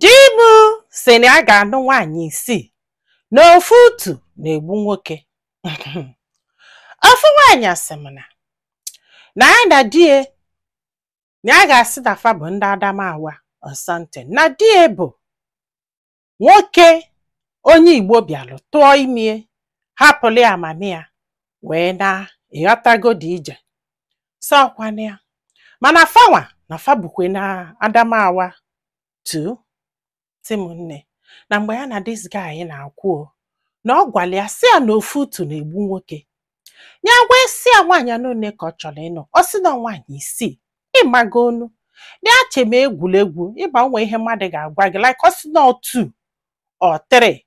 Di m sị na ya ga-anụ nwaanyị isii na ofu utu na-egbu nwoke. Ofu nwaanyị asị m na na ya na di ya na ya ga-asị na fa bụ ndị Adamawa or something na di ya bụ nwoke onye Igbo bịalụ tụọ ime hapụlụ ya mami ya wee naa ị ghọtago dị ije sakwana ya mana fanwa na fa bukwe na Adamawa too sị m nne na mgbe ya na this guy na-akwụ na ọ gwara ya sị ya na ofu utu na-egbu nwoke ya wee sị ya nwaanyị anọ ole ka ọ chọrọ ịnụ ọ sị na nwaanyị isii ị mago nu ya che m egwuregwu ị ma o nwe ihe mmadụ ga-agwa gị like ọ sị na two or three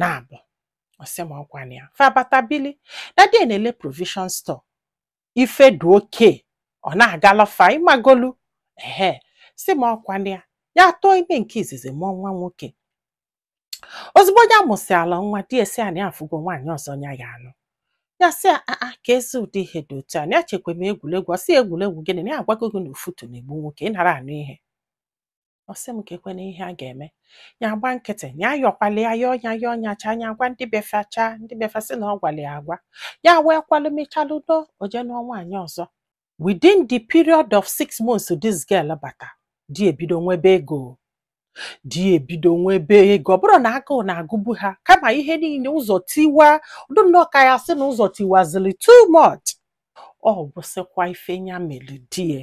naabọ ọ sị m ọkwa na ya fa bata bili na di ya na-ele provision store ife dị okay ọ na-agala fa ị mago nu ehe sị m ọkwa na ya ya tụọ ime nke izizi mụọ nwa nwoke ozugbo ya mụsịala nwa di ya asị ya na ya afụgo nwaanyị ọzọ ya ya-anụ ya sị a a kezi ụdị ihe dị otu a na ya chekwa m egwuregwu ọ sị egwuregwu gịnị na ya agwago gị na ofu utu na-egbu nwoke ị nara anụ ihe ọ sị m kekwanụ ihe a ga-eme ya agba nkịtị ya ayọkwala ya yọọ ya yọọ ya chaa ya agwa ndị be fa chaa ndị be fa sị na ọ gwara ya agwa ya wee kwalụ mechalụnụ o jee nụọ nwaanyị ọzọ within the period of six months this girl bata di ebido nwebe ego di ebido nwebe ego ọ bụrọ na agụụ na-agụbu ha kama ihe niile ụzọ tiwadụ nnọọ ka ya sị na ụzọ tiwazili too much ọ gwụsịkwa ife ya melụ di ya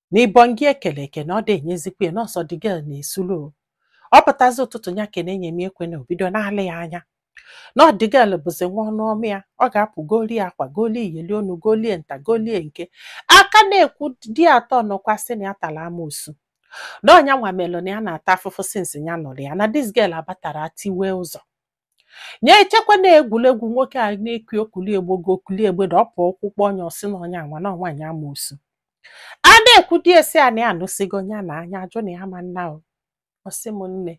na even gị ekele eke na ọ dị enyezikwa ya na ọ sọ the girl na-esulu o. ọ pụtazi ụtụtụ ya kene enye m ekwe na o bido na-alị ya anya na ọ the girl bụzi nwa ọnụ ọma ya ọ ga-apụ golie akwa golie iyeli onu golie nta golie nke a ka na-ekwu di atọ nọkwa sị na ya tara amoosu na ọ nyanwa melụ na ya na-ata afụfụ since ya nụlụ ya na this girl a batara tiwe ụzọ nya echekwa na egwuregwu nwoke a na-ekwu okuli egbo gị okuli egbe na ọ pụ ụkwụ kpọọ nya ọ sị na ọ nyanwa na nwaanyị amoosu a na-ekwu di asị ya na ya anụsịgo nya na nya ajụ na ya ama ana o ọsị m nne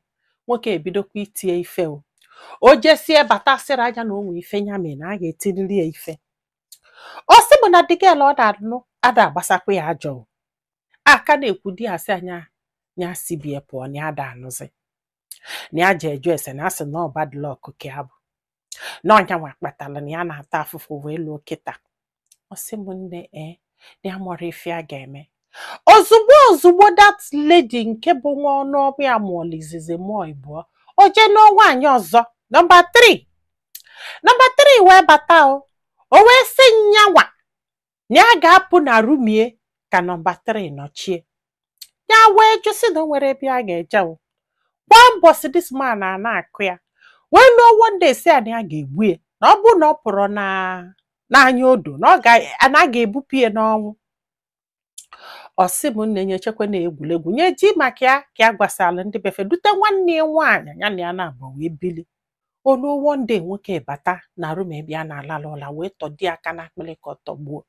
nwoke ebidokwa itie ife o o jesie bata sịrị nya na o nwe ife ya mere na a ga-etiriri ya ife ọ sị m na the girl ọ na-anụ ada agbasakwa ya ajọ o. a ka na-ekwu di asị nya ya si be ya pụọ na ya ada anụzi na ya jee ajụ ese na a sị na ọ bad luck ka ya bụ na ọ nyanwa kpatara na ya na-ata afụfụ wee luo kịta ọ sị m nne ee na ya amarọ ife a ga-eme ozugbo ozugbo that lady nke bụ nwa ọnụ ọbụ ya mụọla izizi mụọ ịbụọ o jee nụọ nwaanyị ọzọ nọmba 3 nọmba 3 wee bata o o wee sị nyanwa na ya ga-apụ na room ya ka nọmba 3 nọchie ya wee jụ sị na o nwerọ ebe ya ga-eje kwa mbọsị this man a na-akụ ya wee luo one day sị ya na ya ga-egbu ya na ọ bụrụ na ọ pụrọ n'anya odo na ọ ga- na a ga-ebupụ ya n'ọnwụ ọ sị m nne nya chekwa na egwuregwu nya ji maka ya ka ya gwasara ndị be fa dute nwanne ya nwaanyị ya na ya naabọ wee bili o luo one day nwoke bata na room ebe ya na-alalụ ụla wee tọdo ya aka n'akpịrị ka ọ tọgbuo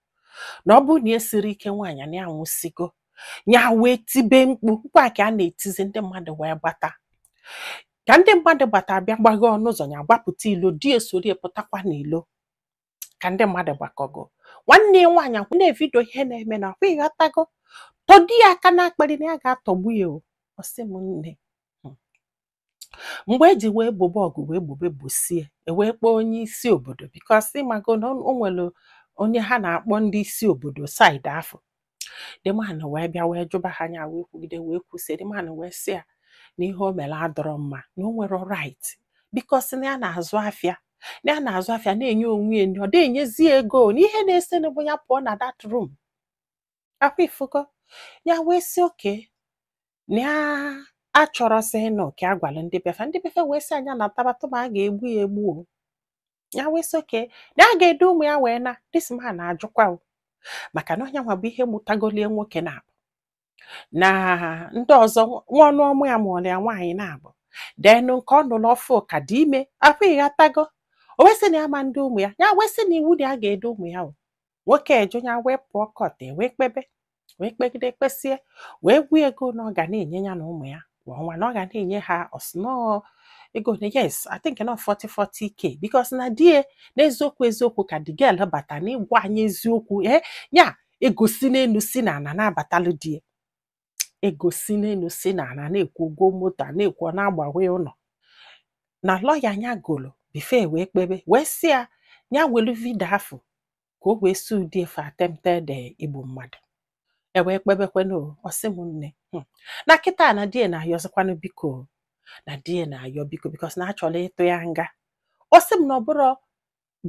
na ọ bụrụ na ya esirọ ike nwaanyị na ya anwụsigo ya wee tibe mkpu mkpu a ka ya na-etizi ndị mmadụ wee gbata ka ndị mmadụ gbata bịa gbaghe ọnụ ụzọ ya gbapụta ilo di ya esoro ya pụtakwa n'ilo ka ndị mmadụ gbakọgo nwanne ya nwaanyị akwụ na-evidio ihe na-eme na akwa ịghọtago tọdo ya aka n'akpịrị na ya ga-atọgbu ya o ọ sị m nne mgbe e ji wee gbobe ọgụ wee gbobe gbosie e wee kpọọ onye isi obodo because ịmago na o nwere onye ha na-akpọ ndị isi obodo side afụ the man wee bịa wee jụba ha anya wee kwugide wee kwusie the man wee sị ya na ihe o mere adịrọ mma na o nwere right because na ya na-azụ afịa na ya na-azụ afịa na-enye onwe ya nri ọ dịghị enyezi ego na ihe na-ese bụ ya pụọ na that room akwa ịfụgo ya wee sị okay na ya achọrọzị ịnụ ka ya gwara ndị be fa ndị be fa wee sị ya nya nataba tụma a ga-egbu ya egbu o ya wee sị okay na ya ga-edu ụmụ ya wee naa this man na-ajụkwa o maka na onye nwa bụ ihe mụtagolu ya nwoke naabọ na ndị ọzọ nwa ọnụ ọmụ ya mụọrọ ya nwaanyị naabọ then nke ọ nụrụ ọfụụ ka dị ime akwa ịghọtago o wee sị na ya ama edu ụmụ ya ya wee sị na iwu na ya ga-edu ụmụ ya o nwoke ajụ ya wee pụọ court e wee kpebe wee kpegide kpesie wee gwa ya ego na ọ ga na-enye ya na ụmụ ya kwa ọnwa na ọ ga na-enye ha ọ sị na ego one yes I think na ọ 40 40k because na di ya n'eziokwu eziokwu ka the girl bata n'ịgwa anyị eziokwu ee ya ego si n'elu si n'ana na-abatalụ di ya ego si n'elu si n'ana a na-ekwu ụgwọ moto a na-ekwu ọ na-agbawe ụlọ na lawyer ya golo before wee kpebe wee sị ya ya welu vidio afụ ka o wee sue di ya for attempted eh, igbu mmadụ e wee kpebekwanụ o, ọ sị m nne "Hmm, na kịta na di ya na-ayọzikwanụ biko o, na di ya na-ayọ biko because na a chọrọ ịtụ ya nga ọ sị m na ọ bụrọ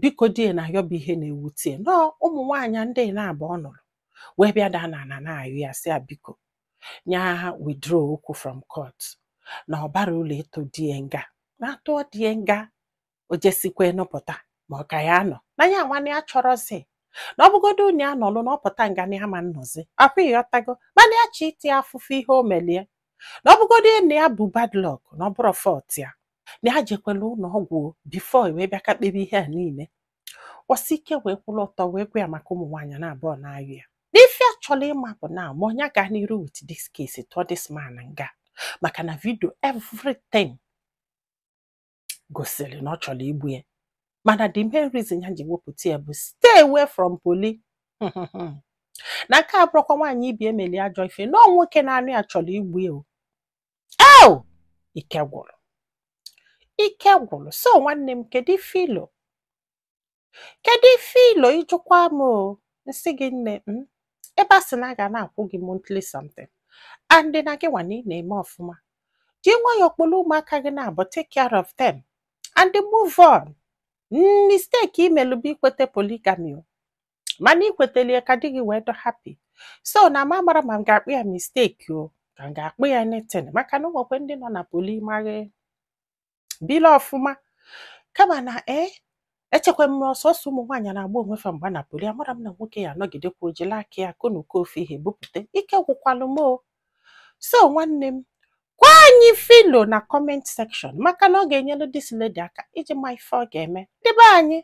biko di ya na-ayọ bụ ihe na-ewute ya na ọ ụmụ nwaanyị ndị naabọ ọ nụrụ wee bịa daa n'ana na-ayọ ya sị ya biko nya withdraw okwu from court na ọ barọ ulu ịtụ di ya nga na a tụọ di ya nga o jesikwa nọpụta ma ọ ka ya nọ na ya nwa na ya achọrọzi na ọ bụgodo onye ya nọlụ na ọ pụta nga na ya ama nọzi akwa ịghọtago mana ya chọ ịta afụfụ ihe o melu ya na ọ bụgodo na ya bụ bad luck na ọ bụrọ fault ya na ya jekwela ụlọ ọgwụ before wee bịa ka kpebie ihe a niile o sie ike wee kwụrụ ọtọ wee gwa ya maka ụmụ nwaanyị naabụọ na-ayọ ya n'ife ya chọrọ ịma bụ na ma ọ nya gaa n'iru with this case tụọ this man nga maka na video everything gosiri na ọ chọrọ igbu ya mana the main reason ya ji wepụta ya bụ stay away from poly na nke a abụrọkwa nwaanyị ibe ya meli ajọ ife na ọ nwoke na-anụ ya chọrọ igbu ya o o ike gwụrụ ike gwụrụ so nwanne m kedu ife i lo kedu ife i lo ị jụkwa m o m sị gị nne m ebe a sị na a ga na-akwụ gị monthly something and na gị nwa na ị na-eme ọfụma ji nwayọọ kpọrọ ụmụaka gị naabụọ take care of them and move on mistake i melu bụ ikweta polygamy o mana i kweteli ya ka di gị wee dụ happy so na m amara ma m ga-akpọ ya mistake o ka m ga-akpọ ya anything maka na o nwekwe ndị nọ na poly ma ha ebili ọfụma kama na ee echekwa m ọ sọsọ ụmụ nwaanyị na-agba onwe fa mgba na poly amara m na nwoke ya anọgidekwa o jili aka ya konuko ofe ihe bupụta ike gwụkwalụ m o so nwanne m gwa anyị ife i lo na comment section maka na ọ ga-enyelu this lady aka iji ma ife ọ ga-eme debe anyị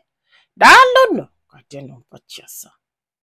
daalụnụ ka ọ dị n'ụbọchị ọzọ